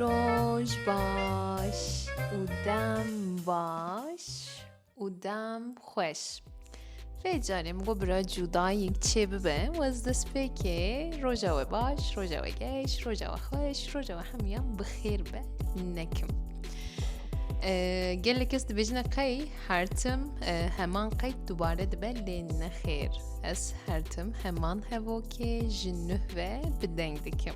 Roj baş û dem baş û dem xweş. Vê carê min got bira cudayîk çê bibe we ez destpêkê roja we baş, roja we geş, roja we xweş, roja we hemûyan bi xêr be nekim. Gelek kes dibêjin qey Her tim heman qeyd dubare dibe lê nexêr. Ez her tim heman hevokê ji nuh ve bi deng dikim.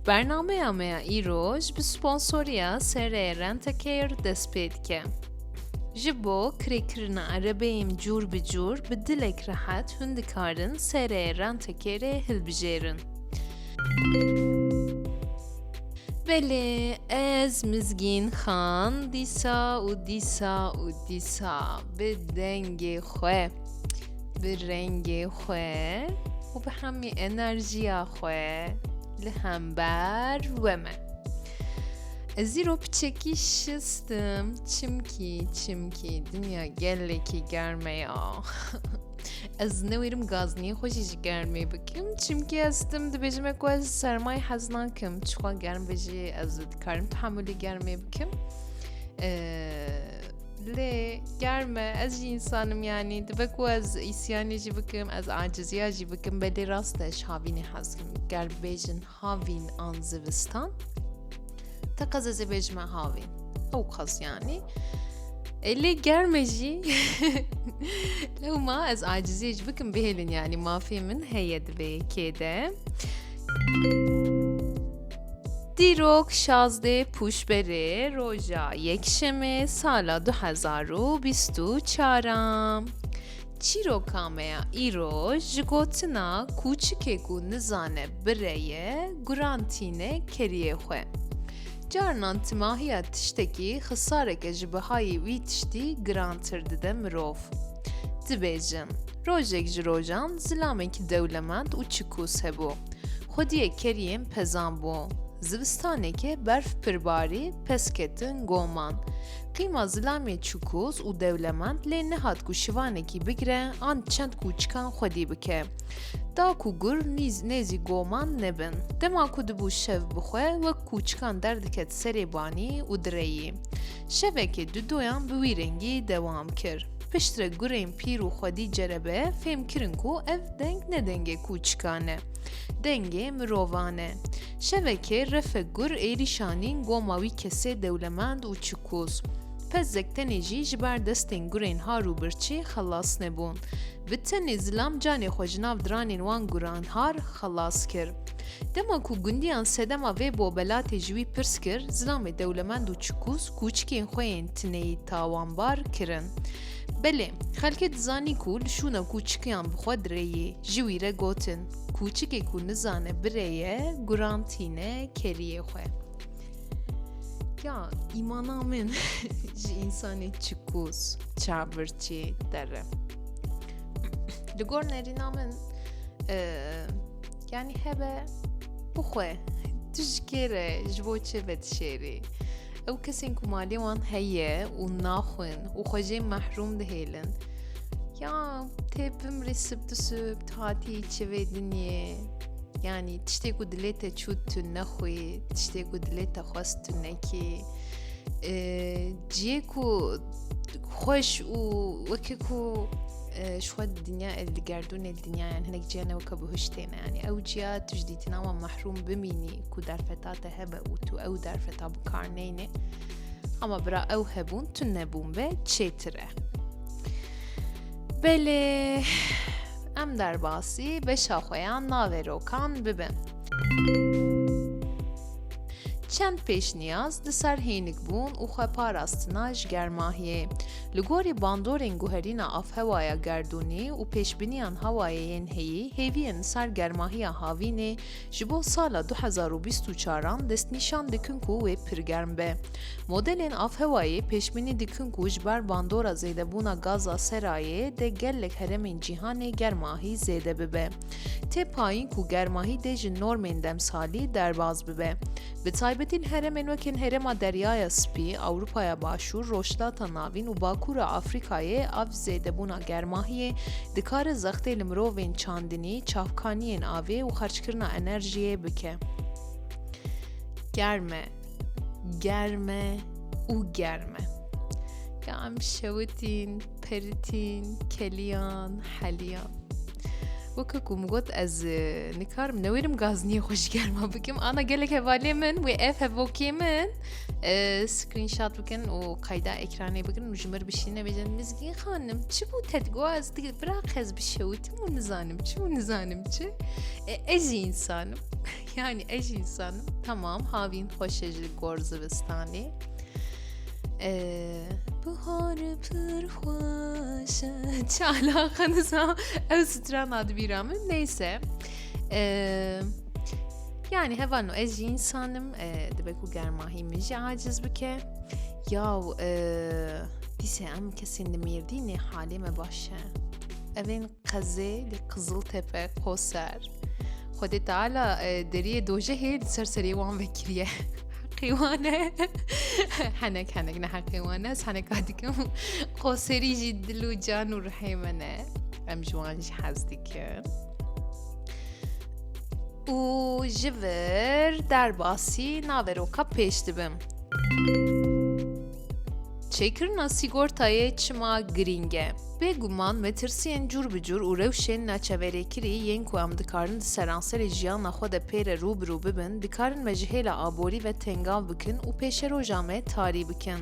Bernameya me ya îroj bi sponsoriya serê Rentecare dest pê dike. Ji bo kirêkirina erebeyên cûr bi cûr bi dilek rehet hûn dikarin serê rentekerê hilbijêrin. Belê ez mizgîn xan dîsa û dîsa û dîsa bi dengê xwe bi rengê xwe û bi hemî enerjiya xwe li hember we me. Ez îro piçekî şistim çimkî çimkî dinya gelekî germe ya. Ez newêrim gazniyê xwe jî ji germê bikim çimkî ez tim dibêjim ku ez sermayê hez nakim çixwa germ bi jî ez dikarim tehamulî germê bikim lê germe ez jî insanim yanî dibe ku ez îsyanê jî bikim ez aciziya jî bikim belê rast e ji havînê hezkim gerbêjin Havîn an zivistan? Te qez ez ê bêjime havîn. Ew qez yanî. E lê germe jî lewma ez acizî ji bikim bihêlin yanî mafê min heye divê yekê de. Dîrok şazdê pûşberê roja yekşemê sala du hezar û bîst û çar a. Çîroka me ya îro ji gotina kûçikê ku nizane bire ye guran tîne keriyê xwe. Carinan timahiya tiştekî xisareke ji bihayî wî tiştî girantir dide mirov. Dibêjin, rojek ji rojan zilamekî dewlemend û çikûs hebû. Xwediyê keriyên pezan bû. Zivistanekê berf pir barî, pez ketin goman. Qîma zilamê çikoz û dewlemend lê nehat ku şivanekî bigire an çend kûçikan xwedî bike. Da ku gur nîz nêzî goman nebin. Dema ku dibû şev bi xwe wek kûçikan derdiket serê banî û direyî. Şevekê du doyan bi wî rengî dewam kir. Piştre gurên pîr û xwedî cerebe fêmkirin ku ev deng ne dengê kûçikan e. Dengê mirovan e. Şevekê Refik Gur êrî şanîn goma wî kesê dewlemend û çikoz. Pezek tenê jî ji ber destên gurên har û birçî xelas nebûn. Bi tenê zilam canê xwe ji nav diranên wan guran har xelas kir. Dema ku gundiyan sedema vê bobelatê ji wî pirs kir, zilamê dewlemend û çikoz kûçikên xwe yên tineyî tawanbar kirin. Belê, xelkê dizanî ku li şûna kûçikiyan bi xwe direyê, ji wî re gotin. Kûçikê ku nizane birê ye, guran tîne keriyê xwe. Ya îmana min ji însanê çikûz, çavurçî dere. Li gor nerîna min yanî hebe bixwe tu ji kê re ji bo çi vedişêrî? Ew kesên ku malê wan heye û naxwin û xwe jê mehrûm dihêlin. Ya tê bimrê sib di sib hatî çivê dinyê. Yanî tiştê ku dilê te çû tu nexwî, tiştê ku dilê te xwest tu nekî. Ciyê ku xweş û wekî ku ji xwe dinya ev digerdûnê dinyayan hinek ciyan ew ke bihiştêne yanî ew ciya tu ji dîtina wan mehrûm bimînî ku derfeta te hebe. û tu ew derfeta bi kar neyne ama bira ew hebûn tu nebûn be çêtir e belê em derbasî beşa xwe ya navê rokan bibin çend pêşniyaz di ser hênik bûn û xwe parastina ji germahiyê. Li gorî bandorên guherîna afhewaya gerdûnî û pêşbiniyan hawayê yên heyî hêviyên li ser germahiya havînê Ji bo sala du hezar û bîst û çar an destnîşan dikin ku wê pir germ be. Modelên avhewayê pêşbînî dikin ku ji ber bandora zêdebûna gaza serayê dê gelek heremên cîhanê germahî zêde bibe. Tê payîn ku germahî dê ji normên demsalî derbaz bibe. Bi taybetî li heremên wekên Herêma Deryaya Spî, Ewropaya Başûr, Rojhilata Navîn û Bakûra Afrîkayê av zêdebûna germahiyê dikare zextê li mirovên çandinî, çavkaniyên avê û xerckirina enerjiyê bike. Germ e. Germ e û germ e. Ka em şewitîn. Peritîn, keliyan, heliyan. Weke ku min got ez nikarim newêrim gazniyê xwe ji germa bikim ana gelek hevalê min wê ev hevokê min screenshot bikin û qayda ekranê bikin û ji mir bişîne bêjin mizgîn xanim çi bû tedgoa ez digir bira qez bişewitim û nizanim çi û nizanim çi ez jî insanim yani ez jî insanim tamam havîn xweşe ji gor zivistanê Bihar pir xweş Çi alaqa nisa ew strana dibîra min neyse Yani hevano ez jî insanim dibe ku germahî min jî aciz bike yaw dîse em kesên li mêrdînê halê me baş e evên Qezê li Qiziltepe, Qoser. Xwedê Teala deriyê dojehê di ser serê wan vekiriye. Heqê wan e. Henek henek ne heqê wan e. Ez heneka dikim. Qoserî jî dil û can û rihê min e. Em ji wan jî hez dikin. Û ji vir derbasî naveroka pêş dibim. Çêkirina sîgortayê çima girîng e? Bêguman metirsiyên cûr bi cûr û rewşên naçeverêkirî yên ku em dikarin di seranserê jiyana xwe de pê re rû bi rû bibin, dikarin me ji hêla aborî ve tengav bikin û pêşeroja me tarî bikin.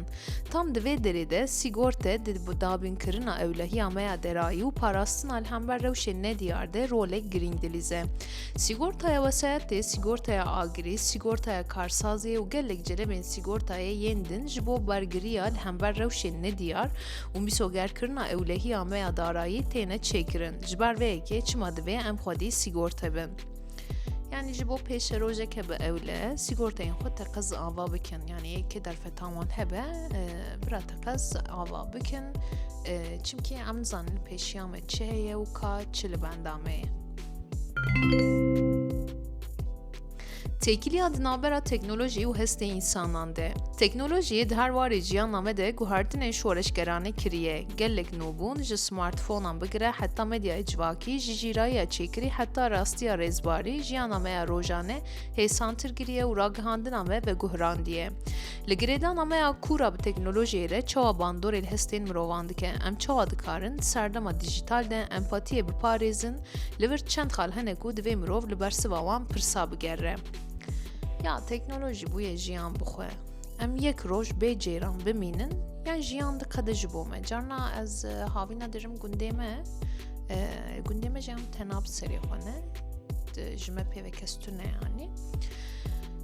Tam di vê derê de sîgorte di dabînkirina ewlehiya me ya derayî û parastina li hember rewşên nediyar de rolek girîng dilîze. Sîgortaya wesayetê, sîgortaya agirî, sîgortaya karsazê û gelek celebên sîgortayê yên din ji bo bergiriya li hember rewşên nediyar û mîsogerkirina ewlehiya me ya darayî têne çêkirin. Ji ber vê yekê çima divê em xwedî sîgorte bin? Yani ji bo pêşe rojeke bi ewle sîgorteyên xwe teqez ava bikin. Yani yekê derfetan wan hebe e, bira teqez ava bikin. E, çimkî em nizanin pêşiya me çi heye û ka çi li benda me ye. Têkiliya di navbera teknolojî û hestê însanan de. Teknolojiyê di her warê ciyana me de guhertinên şoreşgeranê kiriye. Gelek nûbûn ji smartfonan bigire heta medyayê civakî, ji jîrayiya çêkirî heta rastiya rêzbarî jiyana me ya rojane hêsantir kiriye û ragihandina me veguhrandiye. Li girêdana me ya kûra bi teknolojiyê re çawa bandorê li hestên mirovan dike, em çawa dikarin di serdema dijîtal de empatiyê biparêzin, li vir çend xal hene ku divê mirov li bersiva wan pirsa bigere. Ya teknolojî bûye jiyan bixwe. Em yek roj bê ceyran bimînin yan jiyan diqede ji bo me. Carna ez e, havîna dirim gundê me, e, gundê me jiyan tena bi serê xwe ne, ji me pê ve kes tune yanî.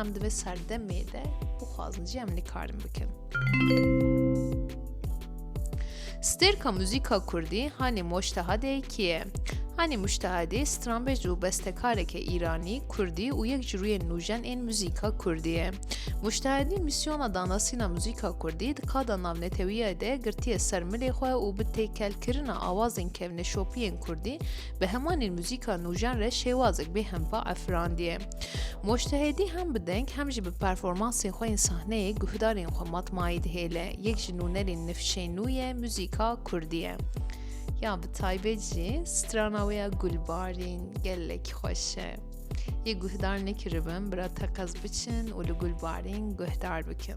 Em di vê serdemê de bixwazin jî em likarin bikin. Stêrka muzîka Kurdî hanê Moştehadê kî ye? Hanê Muştehadê stranbej û bestekareke Îranî, Kurdî û yek ji rûyên nûjen ên muzîka Kurdî ye. Muştehadî mîsyona danasîna muzîka Kurdî di kada navnetewiya de girtiye ser milê xwe û bi têkelkirina awazên kevneşopiyên Kurdî Bi hemanîn muzîka nûjan re şêwazek bê hempa efirandiye. Moştehedî hem bi deng hem jî bi performansên xwe yên sahneyê guhdarên xwe matmayî dihêle. Yek ji nûnerên nifşên nû ye muzîka kurdî ye. Ya bi taybet jî strana wê ya gulbarîn gelek xweş e. Yê guhdar nekiribin bira teqez biçin û li gulbarîn guhdar bikin.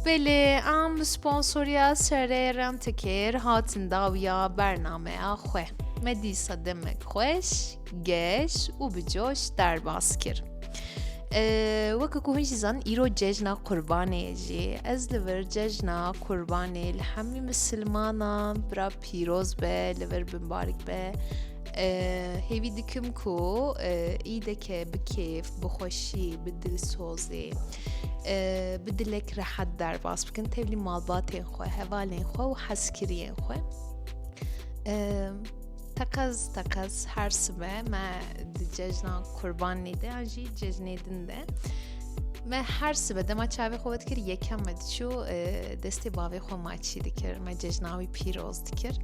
Belê em bi sponsoriya serê rentikêr hatin dawiya bernameya xwe. Me dîsa demek xweş, geş û bi coş derbas kir. Weke ku hûn jî zan îro cejna qurbanê jî ez li vir cejna qurbanê li hemî misilmanan bira pîroz be li vir bin barik be hêvî dikim ku îdeke bi kêf bi xweşî bi dilsozê bi dilek rehet derbas bikin tevlî malbatên xwe hevalên xwe û hezkiriyên xwe teqez teqez her sibe me di cejna kurbanê de an jî cejnê din de me her sibe dema çavê xwe dikir yekem me diçû destê bavê xwe maçî dikir me cejna wî pîroz dikir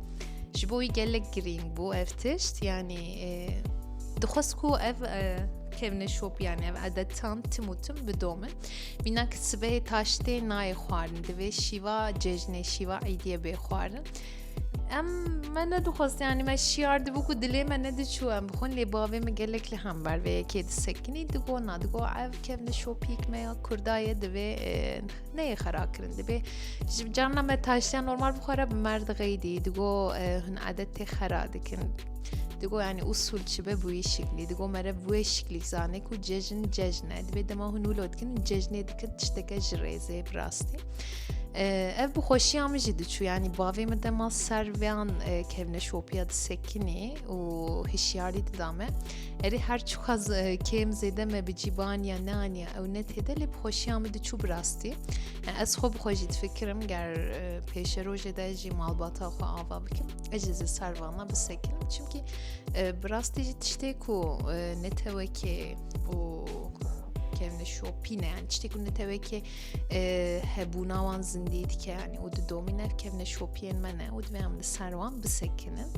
ji bo wî gelek girîng bû ev tişt yanî dixwest ku ev kevne şopiyane ev edetan tim û tim bidomin mîna ki sibehê taştê nayê xwarin divê şîva cejnê şîva îdiye bê xwarin Em me nedixwest yanî me şiyar dibû ku dilê me nediçû em bixwin lê bavê min gelek li hember vê yekê disekinî digo na digo ev kevne şopîk me ya kurdaye divê neyê xera kirin dibê ji carna me taştiyan normal bixwara bi merd xeydî digo hin adet tê xera dikin digo yani usul çi be bu şiklî digo mere bu şiklî zane ku cejin cejne divê dema hûn wilo dikin cejnê dikin tişteke ji rêzê bi rastî Ee, ev bi xweşiya min jî diçû yanî bavê min dema ser vêyan e, kevne şopiya disekinî û hişyarî dida me erê her çiqas e, kêm zêde me bi cîban ya neaniya ew ne têde lê bi xweşiya min diçû bi rastî E, ez xwe bi xwe jî difikirim ger e, pêşerojê de jî malbata xwe ava bikim ez jî ser vana bisekinim çimkî e, bi rastî jî tiştê ku e, netewekê û kevne şopîne yani tiştê ku netewekê hebûna wan zindî dike yanî û di domî nevkevne şopiyên me ne û divê em li ser wan bisekinin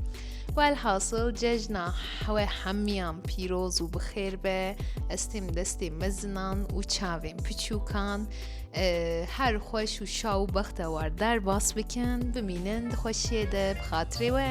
welhasil cejna we hemiyan pîroz û bixêr be ez têm destê mezinan û çavên piçûkan her xweş û şa û bexte war derbas bikin bimînin di xweşiyê de bi xatirê we